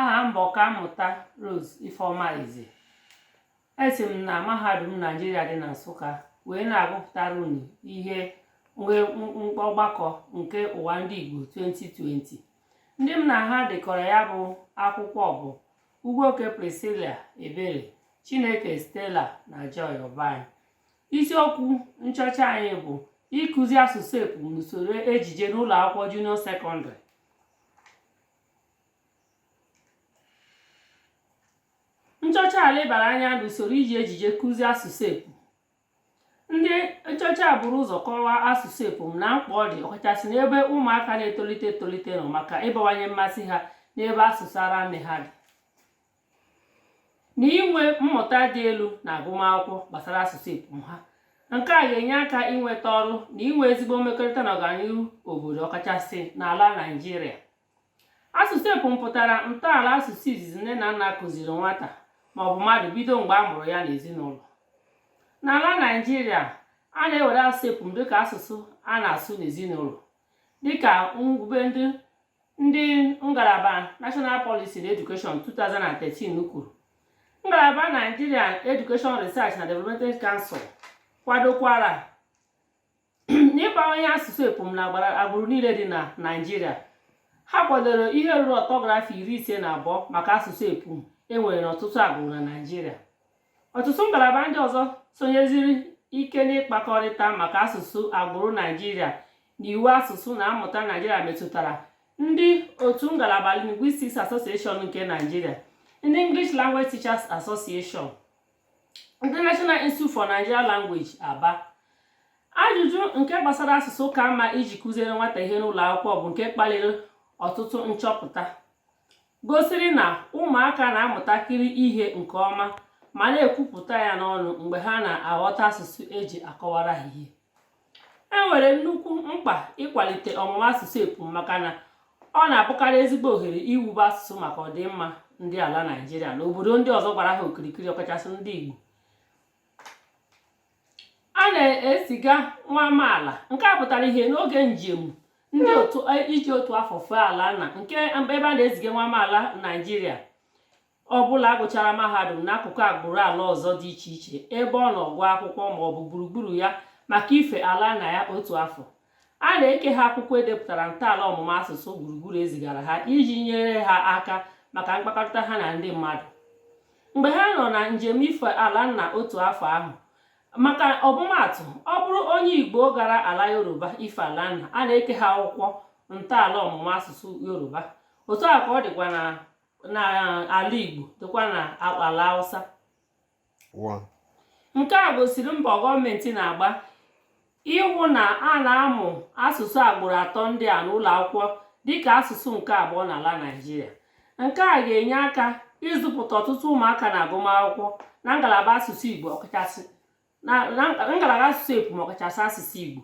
aha m bụ ọkammụta Rose Ifeoma Eze esi m na mahadum Naijiria dị na Nsụka wee na-agụpụtara unu ihe ọgbakọ nke ụwa ndị Igbo 2020 ndị m na ha dekọrọ ya bụ akwụkwọ bụ Ugwuoke Priscilla Ebere Chineke Stella na Joy Obayi isiokwu nchọcha anyị bụ ịkụzi asụsụ epum n'usoro ejije n'ụlọ akwụkwọ junior secondary nchọcha a lebara anya n'usoro iji ejije kụzie asụsụ epum ndị nchọcha a buru ụzọ kọwaa asụsụ epum na mkpa ọ dị ọkachasị n'ebe ụmụaka na-etolite etolite nọ maka ịbawanye mmasị ha n'ebe asụsụ ara nne ha dị na inwe mmụta dị elu n'agụmakwụkwọ gbasara asụsụ epum ha nke a ga-enye aka inweta ọrụ na inwe ezigbo mmekọrịta na ọganihu obodo ọkachasị n'ala Naịjirịa asụsụ epum pụtara ntọala asụsụ izizi nne na nna kụziri nwata maọbụ mmadụ bido mgbe a mụrụ ya n'ezinụlọ n'ala naijiria a na-ewere asụsụ epum dịka asụsụ a na-asụ n'ezinụlọ dịka ngwube ndị ndị ngalaba National Policy na Education 2013 kwuru ngalaba Nigerian Education Research na Development Council kwadokwara n'ịgbanye asụsụ epum n'agbụrụ niile dị na naijiria ha kwadoro ihe ruru ọtọgrafi iri ise na abụọ maka asụsụ epum e nwere n'ọtụtụ agbụrụ na naijiria ọtụtụ ngalaba ndị ọzọ sonyesiri ike n'ịkpakọrịta maka asụsụ agbụrụ naijiria na iwu asụsụ na amụta naijiria metụtara ndị otu ngalaba Linguistics Association nke naijiria ndị English Language Teachers Association International Institute for Nigerian Language Aba ajụjụ nke gbasara asụsụ ka mma iji kụziere nwata ihe n'ụlọ akwụkwọ bụ nke kpaliri ọtụtụ nchọpụta gosiri na ụmụaka na-amụtakarị ihe nke ọma ma na-ekwupụta ya n'ọnụ mgbe ha na-aghọta asụsụ e ji akọwara ha ihe e nwere nnukwu mkpa ịkwalite ọmụmụ asụsụ epum maka na ọ na-abụkarị ezigbo ohere iwube asụsụ maka ọdịmma ndị ala naijiria na obodo ndị ọzọ gbara ha okirikiri ọkachasị ndị igbo a na-eziga nwa amaala nke a pụtara ihe n'oge njem ndị otu e, iji otu afọ fee ala nna n'ebe a na-eziga nwa amaala naijiria ọ bụla gụchara mahadum n'akụkụ agbụrụ ala ọzọ dị iche iche ebe ọ nọ gụọ akwụkwọ ma ọ bụ gburugburu ya maka ife ala nna ya otu afọ a na-eke ha akwụkwọ e depụtara ntọala ọmụma asụsụ gburugburu e zigara ha iji nyere ha aka maka mkpakọrịta ha na ndị mmadụ mgbe ha nọ na njem ife ala nna otu afọ ahụ maka ọmụmaatụ ọ bụrụ onye igbo gara ala yoruba ife ala nna a na-eke ha akwụkwọ ntọala ọmụma asụsụ yoruba otu a ka ọ dịkwa na n'ala Igbo nakwa n'ala Hausa nke a gosiri mbọ gọọmenti na-agba ịhụ na a na-amụ asụsụ agbụrụ atọ ndị a n'ụlọ akwụkwọ dịka asụsụ nke abụọ n'ala Naịjirịa nke a ga-enye aka ịzụpụta ọtụtụ ụmụaka na agụmakwụkwọ na ngalaba asụsụ Igbo ọkachasị na ngalaba asụsụ epum ọkachasị asụsụ Igbo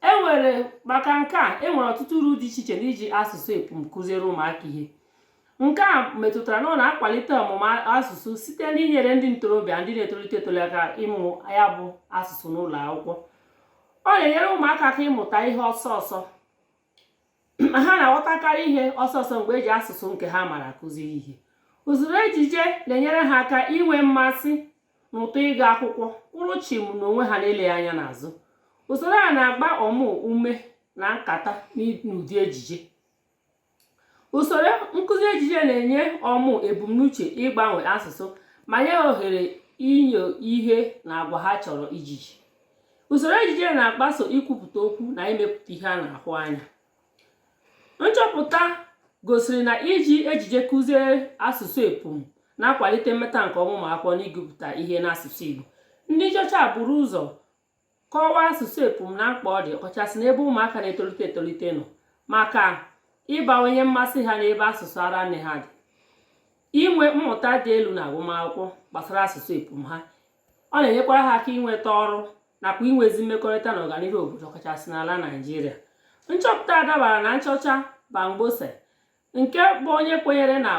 e nwere maka nke a e nwere ọtụtụ uru dị iche iche n'iji asụsụ epum kụziere ụmụaka ihe nke a metụtara na ọ na-akwalite ọmụmụ asụsụ site n'inyere ndị ntorobịa ndị na-etolite etolite aka ịmụ ya bụ asụsụ n'ụlọ akwụkwọ ọ na-enyere ụmụaka aka ịmụta ihe ọsọ ọsọ ha na-aghọtakarị ihe ọsọ ọsọ mgbe e ji asụsụ nke ha mara akụzi ihe usoro ejije na-enyere ha aka inwe mmasị na ụtọ ịga akwụkwọ kwụrụ chim na onwe ha na-ele anya n'azụ usoro a na-agba ọmụ ume na nkata n'ụdị ejije usoro nkụzi ejije na-enye ọmụ ebumnuche ịgbanwe asụsụ ma nye ohere inyo ihe na agwa ha chọrọ ijije usoro ejije na-agbaso ikwupụta okwu na imepụta ihe a na-ahụ anya nchọpụta gosiri na iji ejije kụzie asụsụ epum na-akwalite mmeta nke ọma ụmụ akwụkwọ n'igụpụta ihe n'asụsụ Igbo ndị nchọcha buru ụzọ kọwaa asụsụ epum na mkpa ọ dị ọkachasị n'ebe ụmụaka na-etolite etolite nọ maka ịbawanye mmasị ha n'ebe asụsụ ara nne ha dị inwe mmụta dị elu na agụmakwụkwọ gbasara asụsụ epum ha ọ na-enyekwara ha aka inweta ọrụ nakwa inwe ezi mmekọrịta na ọganihu obodo ọkachasị n'ala naijiria nchọpụta a dabara na nchọcha Bamgbose nke bụ onye kwenyere na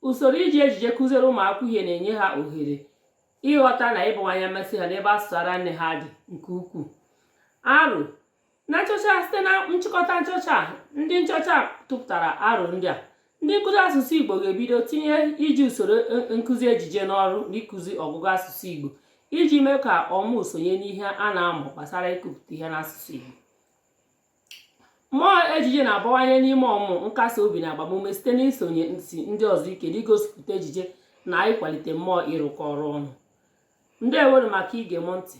usoro iji ejije kụziere ụmụakwụkwọ ihe na-enye ha ohere ịghọta na ịbawanye mmasị ha n'ebe asụsụ ara nne ha dị nke ukwuu aro na nchọcha site na nchịkọta nchọcha ndị nchọcha tụpụtara aro ndị a ndị nkụzi asụsụ igbo ga-ebido tinye iji usoro e, e, nkụzi ejije n'ọrụ n'ịkụzi ọgụgụ asụsụ igbo iji mee ka ọmụ sonye n'ihe a na-amụ gbasara ịgụpụta ihe n'asụsụ igbo mmụọ ejije na-abawanye n'ime ọmụ nkasi obi na agbamume site n'isonyesi ndị ọzọ ike n'igosipụta ejije na ịkwalite mmụọ ịrụkọ ọrụ ọnụ ndewo nụ maka ige m ntị